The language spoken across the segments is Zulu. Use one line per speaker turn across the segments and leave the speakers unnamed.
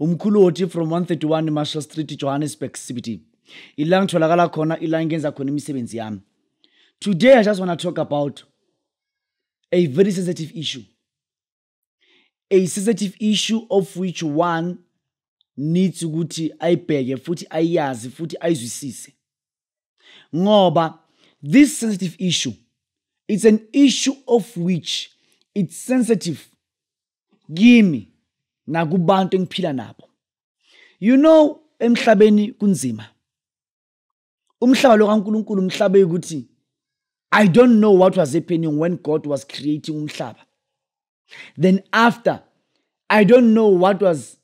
umkhulu wothi from 131 marshall street johannesburg cbt ila ngitholakala khona ila ngenza khona imisebenzi yami today i just want to talk about a very sensitive issue a sensitive issue of which one needs ukuthi ayibheke futhi ayazi futhi ayizwisise ngoba this sensitive issue it's an issue of which it's sensitive kimi nakubantu engiphila nabo you know emhlabeni kunzima umhlaba lo kaNkuluNkulu umhlaba ukuthi I don't know what was happening when God was creating umhlaba. Then after, I don't know what was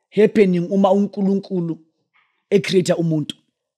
happening uma uNkulunkulu ecreate umuntu.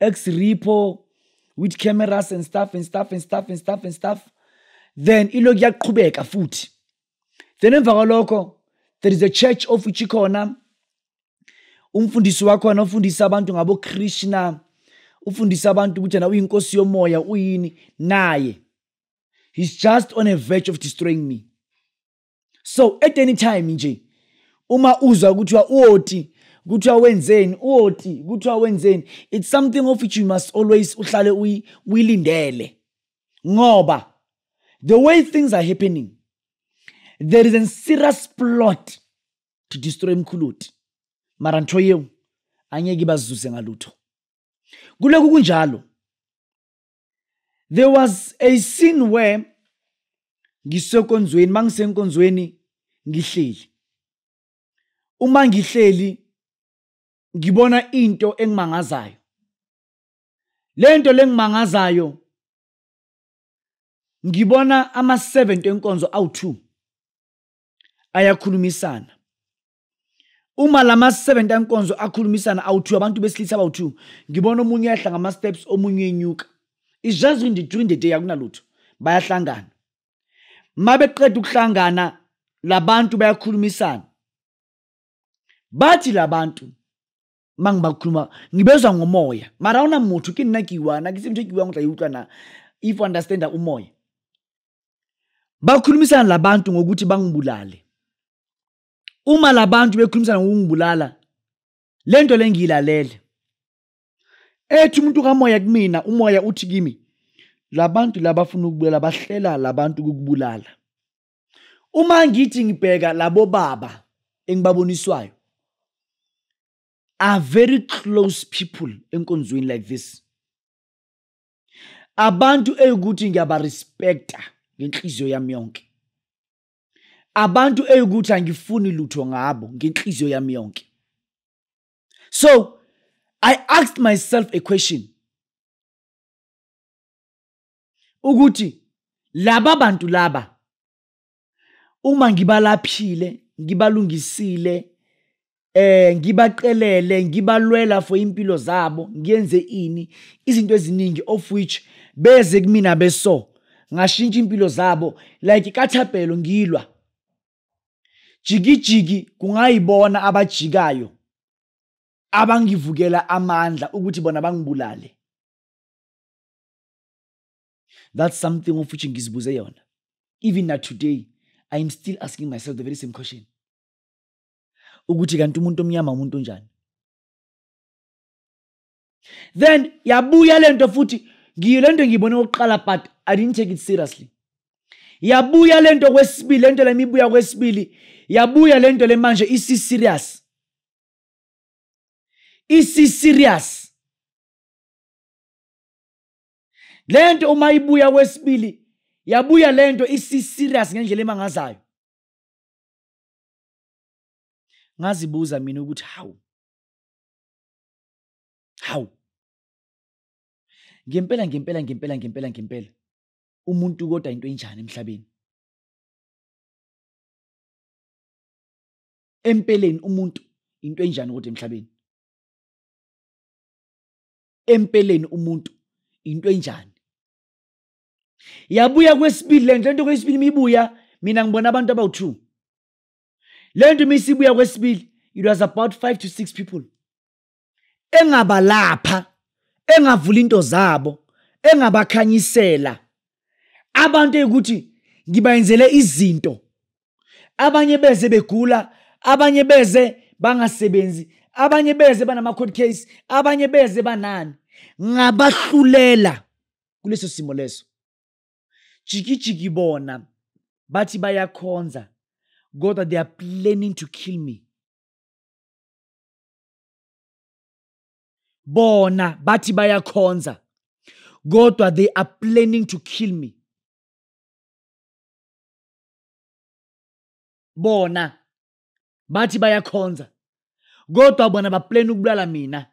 ex repo with cameras and stuff and stuff and stuff and stuff and stuff then ilokhu yaqhubeka futhi then emva kwalokho there is a church of which ikhona umfundisi wakhona ufundisa abantu ngabo Krishna ufundisa abantu ukuthi na uyinkosi yomoya uyini naye he's just on a verge of destroying me so at any time nje uma uzwa kuthiwa uoti kuthiwa wenzeni uoti kuthiwa wenzeni it's something of which you must always uhlale uyilindele ngoba the way things are happening there is a serious plot to destroy mkhuluti mara ntho yeo angeke ibazuze ngalutho kuloku kunjalo there was a scene where ngisekonzweni mangisenkonzweni ngihleli uma ngihleli ngibona into engimangazayo lento lengimangazayo ngibona ama-7 enkonzo awu-2 ayakhulumisana uma lama 70 ankonzo akhulumisana awuthiwa abantu besilisa abawuthiwa ngibona omunye uyahla ngama steps omunye uyenyuka is just in the during the day akunalutho bayahlangana mabeqeda ukuhlangana labantu bayakhulumisana bathi labantu mangibakhuluma ngibezwa ngomoya mara awuna motho ke nna ke iwana ke se motho ke iwang o tla e utlwa na if u understanda umoya bakhulumisana labantu ngokuthi bangibulale uma labantu bekhulumisana ngokungibulala lento lengilalele ethi umuntu kamoya kumina umoya uthi kimi labantu labafuna ukubulala bahlela labantu ukubulala uma ngithi ngibheka labo baba engibaboniswayo are very close people enkonzweni like this abantu eyukuthi ngiyabarespecta ngenhliziyo yami yonke abantu eyukuthi angifuni lutho ngabo ngenhliziyo yami yonke so i asked myself a question ukuthi laba bantu laba uma ngibalaphile ngibalungisile eh ngibaqelele ngibalwela for impilo zabo ngiyenze ini izinto eziningi of which beze kumina beso ngashintsha impilo zabo like kathapelo ngilwa jikijiki kungayibona abajikayo abangivukela amandla ukuthi bona bangibulale that's something of which ngizibuze yona even na today i am still asking myself the very same question ukuthi kanti umuntu omnyama umuntu onjani then yabuya lento futhi ngiyo lento ngiyibone okokuqala but i didn't take it seriously yabuya lento kwesibili lento lemibuya kwesibili yabuya lento le manje isi serious isi serious lento uma ibuya kwesibili yabuya lento isi serious ngendlela emangazayo ngazibuza mina ukuthi hawu hawu ngempela ngempela ngempela ngempela ngempela umuntu kodwa into enjani emhlabeni empeleni umuntu into enjani kodwa emhlabeni empeleni umuntu into enjani yabuya kwesibili le nto le nto kwesibili uma ibuya mina ngibona abantu abawu-two le nto uma isibuya kwesibili it was about five to six people engabalapha engavula into zabo engabakhanyisela abantu eyikuthi ngibayenzele izinto abanye beze begula abanye beze bangasebenzi abanye beze banama-court case abanye beze banani ngabahlulela kuleso simo leso jikijiki bona bathi bayakhonza kodwa they are planning to kill me bona bathi bayakhonza kodwa they are planning to kill me bona bathi bayakhonza kodwa bona baplane ukubulala mina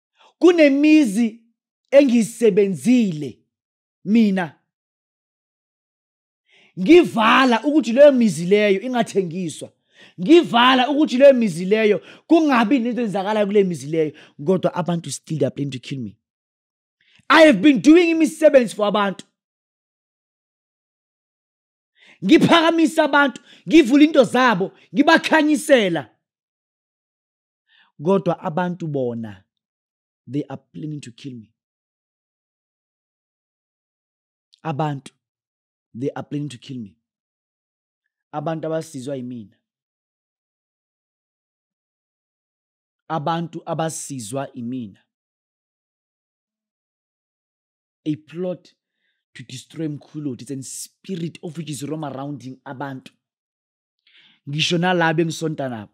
kunemizi engiyisebenzile mina ngivala ukuthi leyo mizi leyo ingathengiswa ngivala ukuthi leyo mizi leyo kungabi nento enzakalayo kule mizi leyo kodwa abantu still they are planning to kill me i have been doing imisebenzi for abantu ngiphakamisa abantu ngivula into zabo ngibakhanyisela kodwa abantu bona they are planning to kill me abantu they are planning to kill me abantu abasizwa yimina abantu abasizwa imina a plot to destroy mkhuloti it's a spirit of which is roam arounding abantu ngisho nalabo engisonta nabo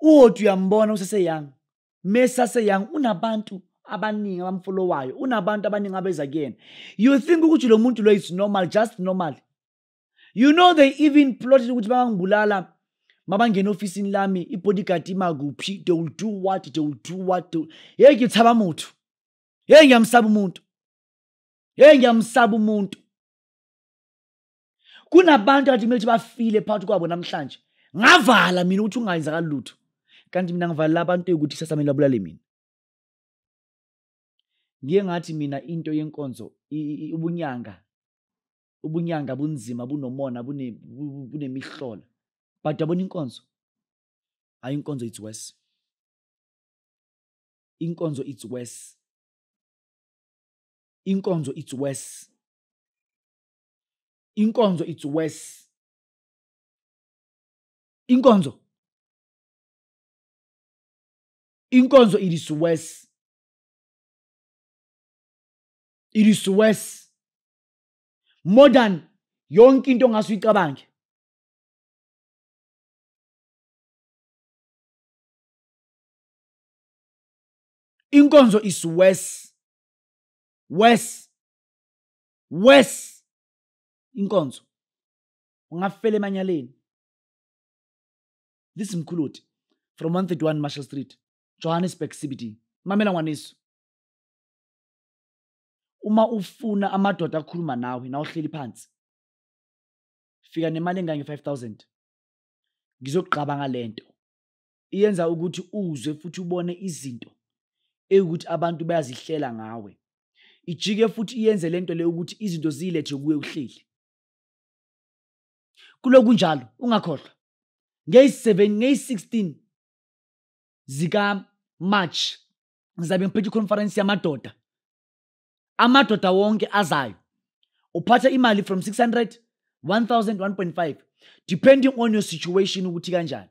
uwoti uyambona useseyoung mesaseyoung unabantu abaningi abamfolowayo unabantu abaningi abeza kuyena you think ukuthi lo muntu lo is normal just normal you know they even plotted ukuthi bangangibulala mabangena ofisini lami i-bodyguard imakuphi they will do what they will do what they will... yeyi ngithaba muthu yeyi ngiyamsaba umuntu yeyi ngiyamsaba umuntu kunabantu athi kumele bafile phakathi kwabo namhlanje ngavala mina ukuthi ungayenzakali lutho kanti mina ngivalela abantu yokuthi kusasa mina babulale mina ngiye ngathi mina into yenkonzo ubunyanga ubunyanga bunzima bunomona bunemihlola but yabona inkonzo hayi inkonzo it's worse inkonzo it's worse inkonzo it's worse inkonzo it's worse inkonzo inkonzo it is worse it is worse more than yonke into ongase uyicabange inkonzo is worse worse worse inkonzo ungafela emanyaleni this mkhuluthi from 131 marshall street johannesburg cbd mamela ngwaniso uma ufuna amadoda akhuluma nawe na uhleli phansi fika nemali engange 5000 ngizokugqaba ngalento iyenza ukuthi uzwe futhi ubone izinto ewukuthi abantu bayazihlela ngawe ijike futhi iyenze lento le ukuthi izinto ziyilethe kuwe uhleli kuloku njalo ungakhohlwa ngeyi-7 ngeyi-16 zikamarch ngizabe ngiphethe ikhonferensi yamadoda amadoda wonke azayo uphatha imali from 600 1000 1.5 depending on your situation ukuthi kanjani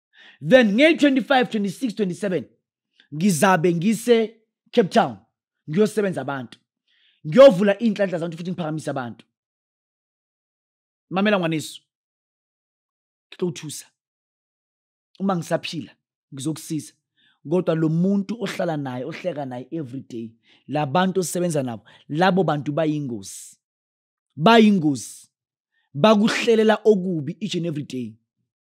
then ngey-25 26 27 ngizabe ngise-cape town ngiyosebenza abantu ngiyovula iy'nhlanhla zabantu futhi ngiphakamise abantu mamela ngwanesu ngixothusa uma ngisaphila ngizokusiza kodwa lo muntu ohlala naye ohleka naye every day labantu osebenza nabo labo bantu bayingozi bayingozi bakuhlelela okubi each and every day